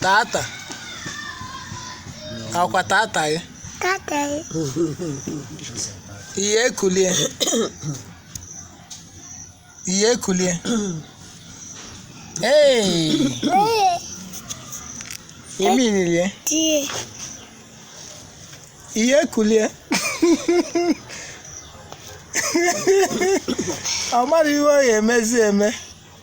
tata ọkwa tata gị Tata ya. ihe ekulie ihe ekulie ee Ee, imi nilie tie. ihe ekulie ọ mara ihe ọ ga-emezi eme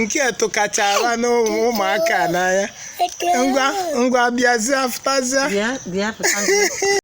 nke a tụkachara n'ụmụaka n'anya ngwa bịazie pụtazie